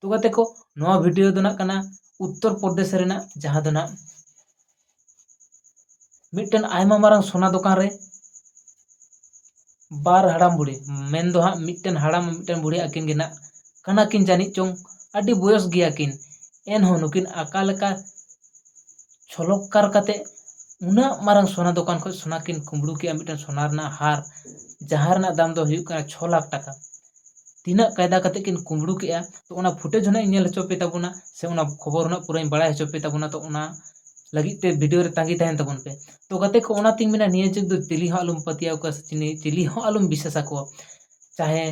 ᱛᱚ ᱜᱟᱛᱮ ᱠᱚ ᱱᱚᱣᱟ ᱵᱷᱤᱰᱤᱭᱳ ᱫᱚ ᱱᱟᱜ ᱠᱟᱱᱟ ᱩᱛᱛᱚᱨ ᱯᱨᱚᱫᱮᱥ ᱨᱮᱱᱟᱜ ᱡᱟᱦᱟᱸ ᱫᱚ ᱱᱟᱜ ᱢᱤᱫᱴᱮᱱ ᱟᱭᱢᱟ ᱢᱟᱨᱟᱝ ᱥᱚᱱᱟ ᱫᱚᱠᱟᱱ ᱨᱮ ᱵᱟᱨ ᱦᱟᱲᱟᱢ ᱵᱩᱲᱦᱤ ᱢᱮᱱ ᱫᱚ ᱦᱟᱸᱜ ᱢᱤᱫᱴᱮᱱ ᱦᱟᱲᱟᱢ ᱢᱤᱫᱴᱮᱱ ᱵᱩᱲᱦᱤ ᱟᱹᱠᱤᱱ ᱜᱮ ᱱᱟᱜ ᱠᱟᱱᱟ ᱠᱤᱱ ᱡᱟᱹᱱᱤᱡ ᱪᱚᱝ ᱟᱹᱰᱤ ᱵᱚᱭᱚᱥ ᱜᱮᱭᱟ ᱠᱤᱱ ᱮᱱᱦᱚᱸ ᱱᱩᱠᱤᱱ ᱟᱠᱟ ᱞᱮᱠᱟ ᱪᱷᱚᱞᱚᱠᱠᱟᱨ ᱠᱟᱛᱮ ᱩᱱᱟᱹᱜ ᱢᱟᱨᱟᱝ ᱥᱚᱱᱟ ᱫᱚᱠᱟᱱ ᱠᱷᱚᱱ ᱥᱚᱱᱟ ᱠᱤᱱ ᱠᱩᱢᱵᱽᱲᱩ ᱠᱮᱜᱼᱟ ᱢᱤᱫᱴᱮᱱ ᱥᱚᱱᱟ ᱨᱮᱱᱟᱜ ᱦᱟᱨ ᱡᱟᱦᱟᱸ ᱨᱮᱱᱟᱜ ᱫᱟᱢ ᱫᱚ ᱦᱩᱭᱩᱜ ᱠᱟᱱᱟ ᱪᱷᱚ ᱞᱟᱠᱷ ᱴᱟᱠᱟ ᱛᱤᱱᱟᱹᱜ ᱠᱟᱭᱫᱟ ᱠᱟᱛᱮ ᱠᱤᱱ ᱠᱩᱢᱵᱽᱲᱩ ᱠᱮᱜᱼᱟ ᱛᱚ ᱚᱱᱟ ᱯᱷᱩᱴᱮᱡᱽ ᱦᱚᱸ ᱱᱟᱜ ᱤᱧ ᱧᱮᱞ ᱦᱚᱪᱚ ᱯᱮ ᱛᱟᱵᱚᱱᱟ ᱥᱮ ᱚᱱᱟ ᱠᱷᱚᱵᱚᱨ ᱦᱚᱸ ᱱᱟᱜ ᱯᱩᱨᱟᱹᱧ ᱵᱟᱲᱟᱭ ᱦᱚᱪᱚ ᱯᱮ ᱛᱟᱵᱚᱱᱟ ᱛᱚ ᱚᱱᱟ ᱞᱟᱹᱜᱤᱫ ᱛᱮ ᱵᱷᱤᱰᱤᱭᱳ ᱨᱮ ᱛᱟᱺᱜᱤ ᱛᱟᱦᱮᱱ ᱛᱟᱵᱚᱱ ᱯᱮ ᱛᱚ ᱜᱟᱛᱮ ᱠᱚ ᱚᱱᱟᱛᱤᱧ ᱢᱮᱱᱟ ᱱᱤᱭᱟᱹ ᱡᱩᱜᱽ ᱫᱚ ᱪᱤᱞᱤ ᱦᱚᱸ ᱟᱞᱚᱢ ᱯᱟᱹᱛᱭᱟᱹᱣ ᱠᱚᱣᱟ ᱥᱮ ᱪᱤᱞᱤ ᱪᱤᱞᱤ ᱦᱚᱸ ᱟᱞᱚᱢ ᱵᱤᱥᱥᱟᱥ ᱟᱠᱚᱣᱟ ᱪᱟᱦᱮ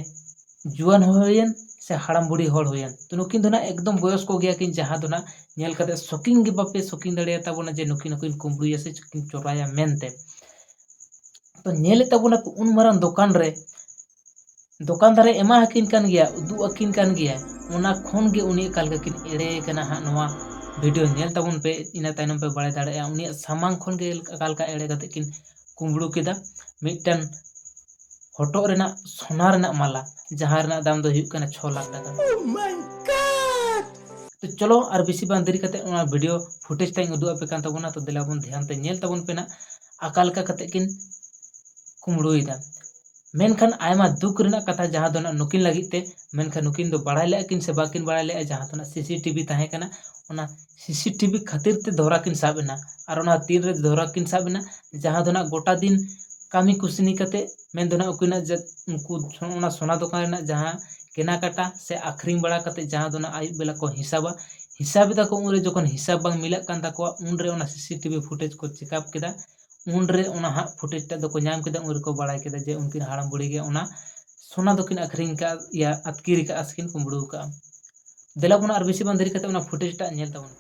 ᱡᱩᱣᱟᱹᱱ ᱦᱚᱲ ᱦᱩᱭᱮᱱ ᱥᱮ ᱦᱟᱲᱟᱢ ᱵᱩᱲᱦᱤ ᱦᱚᱲ ᱦᱩᱭᱮᱱ ᱛᱚ ᱱᱩᱠᱤᱱ ᱫᱚ ᱱᱟᱜ ᱮᱠᱫᱚᱢ ᱵᱚᱭᱚᱥᱠᱚ ᱜᱮᱭᱟ ᱠᱤᱱ ᱡᱟᱦᱟᱸ ᱫᱚ ᱱᱟᱜ ᱧᱮᱞ ᱠᱟᱛᱮ ᱥᱚᱠᱤᱝ ᱜᱮ ᱵᱟᱯᱮ ᱥᱚᱠᱤᱝ ᱫᱟᱲᱮᱭᱟ ᱛᱟᱵᱚᱱᱟ ᱡᱮ ᱱᱩᱠᱤᱱ ᱦᱚᱸ ᱠᱤᱱ ᱠᱩᱢᱵᱽᱲᱩᱭᱟ ᱥᱮ ᱪᱚᱨᱟᱭᱟ ᱢᱮᱱᱛᱮ ᱛᱚ ᱧᱮᱞᱮᱫ ᱛᱟᱵᱚᱱᱟ ᱠᱚ ᱩᱱ ᱢᱟᱨᱟᱝ ᱫᱚᱠᱟᱱ ᱨᱮ ᱫᱚᱠᱟᱱ ᱫᱟᱨᱮ ᱮᱢᱟ ᱟᱹᱠᱤᱱ ᱠᱟᱱ ᱜᱮᱭᱟ ᱩᱫᱩᱜ ᱟᱹᱠᱤᱱ ᱠᱟᱱ ᱜᱮᱭᱟ ᱚᱱᱟ ᱠᱷᱚᱱ ᱜᱮ ᱩᱱᱤ ᱚᱠᱟ ᱞᱮᱠᱟ ᱠᱤᱱ ᱮᱲᱮ ᱠᱟᱱᱟ ᱦᱟᱸᱜ ᱱᱚᱣᱟ ᱵᱷᱤᱰᱤᱭᱳ ᱧᱮᱞ ᱛᱟᱵᱚᱱ ᱯᱮ ᱤᱱᱟᱹ ᱛᱟᱭᱱᱚᱢ ᱯᱮ ᱵᱟᱲᱟᱭ ᱫᱟᱲᱮᱭᱟᱜᱼᱟ ᱩᱱᱤᱭᱟᱜ ᱥᱟᱢᱟᱝ ᱠᱷᱚᱱ ᱜᱮ ᱚᱠᱟ ᱞᱮᱠᱟ ᱮᱲᱮ ᱠᱟᱛᱮ ᱠᱤᱱ ᱠᱩᱢᱵᱽᱲᱩ ᱠᱮᱫᱟ ᱢᱤᱫᱴᱮᱱ ᱦᱚᱴᱚᱜ ᱨᱮᱱᱟᱜ ᱥᱳᱱᱟ ᱨᱮᱱᱟᱜ ᱢᱟᱞᱟ ᱡᱟᱦᱟᱸ ᱨᱮᱱᱟᱜ ᱫᱟᱢ ᱫᱚ ᱦᱩᱭᱩᱜ ᱠᱟᱱᱟ ᱪᱷᱚ ᱞᱟᱠᱷ ᱴᱟᱠᱟ ᱛᱚ ᱪᱚᱞᱚ ᱟᱨ ᱵᱮᱥᱤ ᱵᱟᱝ ᱫᱮᱨᱤ ᱠᱟᱛᱮ ᱚᱱᱟ ᱵᱷᱤᱰᱤᱭᱳ ᱯᱷᱩᱴᱮᱡᱽ ᱛᱟᱹᱧ ᱩᱫᱩᱜ ᱟᱯᱮ ᱠᱟᱱ ᱛᱟᱵᱚᱱᱟ ᱛᱚ ᱫᱮᱞᱟ ᱵᱚᱱ ᱫᱷᱮᱭᱟᱱ ᱛᱮ ᱧᱮᱞ ᱛᱟᱵᱚᱱ ᱯᱮ ᱱᱟᱜ ᱟᱠᱟ ᱞᱮᱠᱟ ᱠᱟᱛᱮ ᱠᱤᱱ ᱠᱩᱢᱵᱽᱲᱩᱭᱮᱫᱟ ᱢᱮᱱᱠᱷᱟᱱ ᱟᱭᱢᱟ ᱫᱩᱠ ᱨᱮᱱᱟᱜ ᱠᱟᱛᱷᱟ ᱡᱟᱦᱟᱸ ᱫᱚ ᱱᱟᱜ ᱱᱩᱠᱤᱱ ᱞᱟᱹᱜᱤᱫ ᱛᱮ ᱢᱮᱱᱠᱷᱟᱱ ᱱᱩᱠᱤᱱ ᱫᱚ ᱵᱟᱲᱟᱭ ᱞᱮᱜᱼᱟ ᱠᱤᱱ ᱥᱮ ᱵᱟᱠᱤᱱ ᱵᱟᱲᱟᱭ ᱞᱮᱜᱼᱟ ᱡᱟᱦᱟᱸ ᱫᱚ ᱱᱟᱜ ᱥᱤᱥᱤ ᱴᱤᱵᱷᱤ ᱛᱟᱦᱮᱸ ᱠᱟᱱᱟ ᱚᱱᱟ ᱥᱤᱥᱤ ᱴᱤᱵᱷᱤ ᱠᱷᱟᱹᱛᱤᱨ ᱛᱮ ᱫᱷᱚᱨᱟ ᱠᱤᱱ ᱥᱟᱵ ᱮᱱᱟ ᱟᱨ ᱚᱱᱟ ᱛᱤᱱ ᱨᱮ ᱫᱷᱚᱨᱟ ᱠᱤᱱ ᱥᱟᱵ ᱮᱱᱟ ᱡᱟᱦᱟᱸ ᱫᱚ ᱱᱟᱜ ᱜᱚᱴᱟ ᱫᱤᱱ ᱠᱟᱹᱢᱤ ᱠᱩᱥᱱᱤ ᱠᱟᱛᱮᱫ ᱢᱮᱱ ᱫᱚ ᱱᱟᱜ ᱩᱠᱤᱱᱟᱜ ᱡᱟᱹᱛ ᱩᱱᱠᱩ ᱚᱱᱟ ᱥᱚᱱᱟ ᱫᱚᱠᱟᱱ ᱨᱮᱱᱟᱜ ᱡᱟᱦᱟᱸ ᱠᱮᱱᱟ ᱠᱟᱴᱟ ᱥᱮ ᱟᱹᱠᱷᱨᱤᱧ ᱵᱟᱲᱟ ᱠᱟᱛᱮᱫ ᱡᱟᱦᱟᱸ ᱫᱚ ᱱᱟᱜ ᱟᱹᱭᱩᱵ ᱵᱮᱞᱟ ᱠᱚ ᱦᱤᱥᱟᱹᱵᱟ ᱦᱤᱥᱟᱹᱵᱽ ᱮᱫᱟ ᱠᱚ ᱩᱱᱨᱮ ᱡᱚᱠᱷᱚᱱ ᱦᱤᱥᱟᱹᱵᱽ ᱵᱟᱝ ᱢᱤᱞᱟᱹᱜ ᱠᱟᱱ ᱛᱟᱠᱚᱣᱟ ᱩᱱᱨᱮ ᱚᱱᱟ ᱥᱤᱥᱤ ᱴᱤᱵᱷᱤ ᱯᱷᱩᱴᱮᱡᱽ ᱠᱚ ᱪᱮᱠᱟᱯ ᱠᱮᱫᱟ ᱩᱱᱨᱮ ᱚᱱᱟ ᱦᱟᱸᱜ ᱯᱷᱩᱴᱮᱡᱽ ᱴᱟᱜ ᱫᱚᱠᱚ ᱧᱟᱢ ᱠᱮᱫᱟ ᱩᱱ ᱨᱮᱠᱚ ᱵᱟᱲᱟᱭ ᱠᱮᱫᱟ ᱡᱮ ᱩᱱᱠᱤᱱ ᱦᱟᱲᱟᱢ ᱵᱩᱲᱦᱤ ᱜᱮ ᱚᱱᱟ ᱥᱚᱱᱟ ᱫᱚᱠᱤᱱ ᱟᱹᱠᱷᱨᱤᱧ ᱠᱟᱫ ᱭᱟ ᱟᱹᱛᱠᱤᱨ ᱠᱟᱜᱼᱟ ᱥᱮᱠᱤᱱ ᱠᱩᱢᱵᱽᱲᱩ ᱠᱟᱜᱼᱟ ᱫᱮᱞᱟ ᱵᱚᱱ ᱟᱨ ᱵᱮᱥᱤ ᱵᱟᱝ ᱫᱮᱨᱤ ᱠᱟᱛᱮ ᱚᱱᱟ ᱯᱷᱩᱴᱮᱡᱽ ᱴᱟᱜ ᱧᱮᱞ ᱛᱟᱵᱚᱱ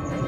ᱯᱮ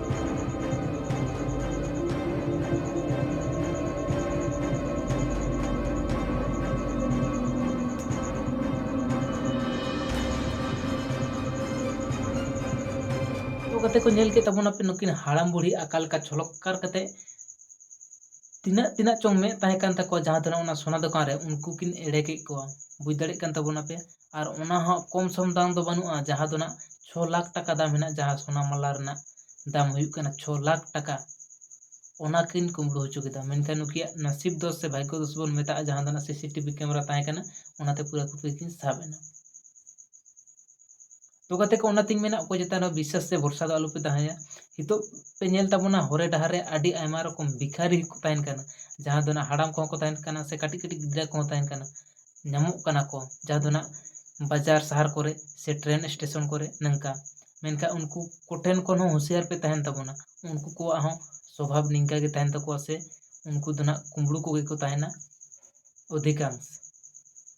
ᱠᱟᱛᱮ ᱠᱚ ᱧᱮᱞ ᱠᱮᱫ ᱛᱟᱵᱚᱱᱟ ᱯᱮ ᱱᱩᱠᱤᱱ ᱦᱟᱲᱟᱢ ᱵᱩᱲᱦᱤ ᱟᱠᱟ ᱞᱮᱠᱟ ᱪᱷᱚᱞᱚᱠᱠᱟᱨ ᱠᱟᱛᱮ ᱛᱤᱱᱟᱹᱜ ᱛᱤᱱᱟᱹᱜ ᱪᱚᱝ ᱢᱮᱫ ᱛᱟᱦᱮᱸ ᱠᱟᱱ ᱛᱟᱠᱚᱣᱟ ᱡᱟᱦᱟᱸ ᱛᱤᱱᱟᱹᱜ ᱚᱱᱟ ᱥᱚᱱᱟ ᱫᱚᱠᱟᱱ ᱨᱮ ᱩᱱᱠᱩ ᱠᱤᱱ ᱮᱲᱮ ᱠᱮᱫ ᱠᱚᱣᱟ ᱵᱩᱡᱽ ᱫᱟᱲᱮᱭᱟᱜ ᱠᱟᱱ ᱛᱟᱵᱚᱱᱟ ᱯᱮ ᱟᱨ ᱚᱱᱟ ᱦᱚᱸ ᱠᱚᱢ ᱥᱚᱢ ᱫᱟᱢ ᱫᱚ ᱵᱟᱹᱱᱩᱜᱼᱟ ᱡᱟᱦᱟᱸ ᱫᱚ ᱱᱟᱦᱟᱜ ᱪᱷᱚ ᱞᱟᱠᱷ ᱴᱟᱠᱟ ᱫᱟᱢ ᱢᱮᱱᱟᱜᱼᱟ ᱡᱟᱦᱟᱸ ᱥᱚᱱᱟ ᱢᱟᱞᱟ ᱨᱮᱱᱟᱜ ᱫᱟᱢ ᱦᱩᱭᱩᱜ ᱠᱟᱱᱟ ᱪᱷᱚ ᱞᱟᱠᱷ ᱴᱟᱠᱟ ᱚᱱᱟ ᱠᱤᱱ ᱠᱩᱢᱵᱽᱲᱩ ᱦᱚᱪᱚ ᱠᱮᱫᱟ ᱢᱮᱱᱠᱷᱟᱱ ᱱᱩᱠᱤᱱᱟᱜ ᱱᱟᱹᱥᱤᱵ ᱫᱚ ᱥᱮ ᱵᱷᱟᱜᱽᱜᱚ ᱫᱳᱥ ᱵᱚᱱ ᱢᱮᱛᱟᱜᱼᱟ ᱡᱟᱦᱟᱸ ᱫᱚ ᱱᱟᱦᱟᱜ ᱥᱤ ᱥᱤ ᱴᱤ ᱵᱷᱤ ᱠᱮᱢᱮᱨᱟ ᱛᱟᱦᱮᱸ ᱠᱟᱱᱟ ᱚᱱᱟᱛᱮ ᱯᱩᱨᱟᱹ ᱯᱩᱨᱤ ᱠᱤᱱ ᱥᱟᱵ ᱮᱱᱟ ᱛᱚ ᱜᱟᱛᱮ ᱠᱚ ᱚᱱᱟᱛᱤᱧ ᱢᱮᱱᱟ ᱚᱠᱚᱭ ᱪᱮᱛᱟᱱ ᱨᱮᱦᱚᱸ ᱵᱤᱥᱥᱟᱥ ᱥᱮ ᱵᱷᱚᱨᱥᱟ ᱫᱚ ᱟᱞᱚᱯᱮ ᱫᱚᱦᱚᱭᱟ ᱱᱤᱛᱚᱜ ᱯᱮ ᱧᱮᱞ ᱛᱟᱵᱚᱱᱟ ᱦᱚᱨᱮ ᱰᱟᱦᱟᱨ ᱨᱮ ᱟᱹᱰᱤ ᱟᱭᱢᱟ ᱨᱚᱠᱚᱢ ᱵᱷᱤᱠᱷᱟᱨᱤ ᱦᱚᱸᱠᱚ ᱛᱟᱦᱮᱱ ᱠᱟᱱᱟ ᱡᱟᱦᱟᱸ ᱫᱚ ᱱᱟᱦᱟᱜ ᱦᱟᱲᱟᱢ ᱠᱚᱦᱚᱸ ᱠᱚ ᱛᱟᱦᱮᱱ ᱠᱟᱱᱟ ᱥᱮ ᱠᱟᱹᱴᱤᱡ ᱠᱟᱹᱴᱤᱡ ᱜᱤᱫᱽᱨᱟᱹ ᱠᱚᱦᱚᱸ ᱛᱟᱦᱮᱱ ᱠᱟᱱᱟ ᱧᱟᱢᱚᱜ ᱠᱟᱱᱟ ᱠᱚ ᱡᱟᱦᱟᱸ ᱫᱚ ᱱᱟᱦᱟᱜ ᱵᱟᱡᱟᱨ ᱥᱟᱦᱟᱨ ᱠᱚᱨᱮ ᱥᱮ ᱴᱨᱮᱱ ᱥᱴᱮᱥᱚᱱ ᱠᱚᱨᱮ ᱱᱚᱝᱠᱟ ᱢᱮᱱᱠᱷᱟᱱ ᱩᱱᱠᱩ ᱠᱚ ᱴᱷᱮᱱ ᱠᱷᱚᱱ ᱦᱚᱸ ᱦᱩᱥᱭᱟᱹᱨ ᱯᱮ ᱛᱟᱦᱮᱱ ᱛᱟᱵᱚᱱᱟ ᱩᱱᱠᱩ ᱠᱚᱣᱟᱜ ᱦᱚᱸ ᱥᱚᱵᱷᱟᱵᱽ ᱱᱤᱝᱠᱟᱹ ᱜᱮ ᱛᱟᱦᱮᱱ ᱛᱟᱠᱚᱣᱟ ᱥᱮ ᱩᱱᱠᱩ ᱫᱚ ᱱᱟᱦᱟᱜ ᱠᱩᱢᱵᱽᱲᱩ ᱠᱚᱜᱮ ᱠᱚ ᱛᱟᱦᱮᱱᱟ ᱚᱫᱷᱤᱠᱟᱝ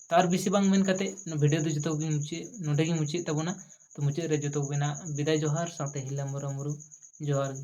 ᱛᱟᱨ ᱵᱮᱥᱤ ᱵᱟᱝ ᱢᱮᱱ ᱠᱟᱛᱮ ᱵᱷᱤᱰᱤᱭᱳ ᱫᱚ ᱡᱚᱛᱚ ᱜᱮᱧ ᱢᱩᱪᱟᱹᱫ ᱱᱚᱸᱰᱮ ᱜᱮᱧ ᱢᱩᱪᱟᱹᱫ ᱮᱫ ᱛᱟᱵᱚᱱᱟ ᱛᱚ ᱢᱩᱪᱟᱹᱫ ᱨᱮ ᱡᱚᱛᱚ ᱠᱚᱜᱮ ᱱᱟᱦᱟᱜ ᱵᱤᱫᱟᱭ ᱡᱚᱦᱟᱨ ᱥᱟᱶᱛᱮ ᱦᱤᱞᱟᱹ ᱢᱩᱨᱟ ᱢᱩᱨᱩ ᱡᱚᱦᱟᱨ ᱜᱮ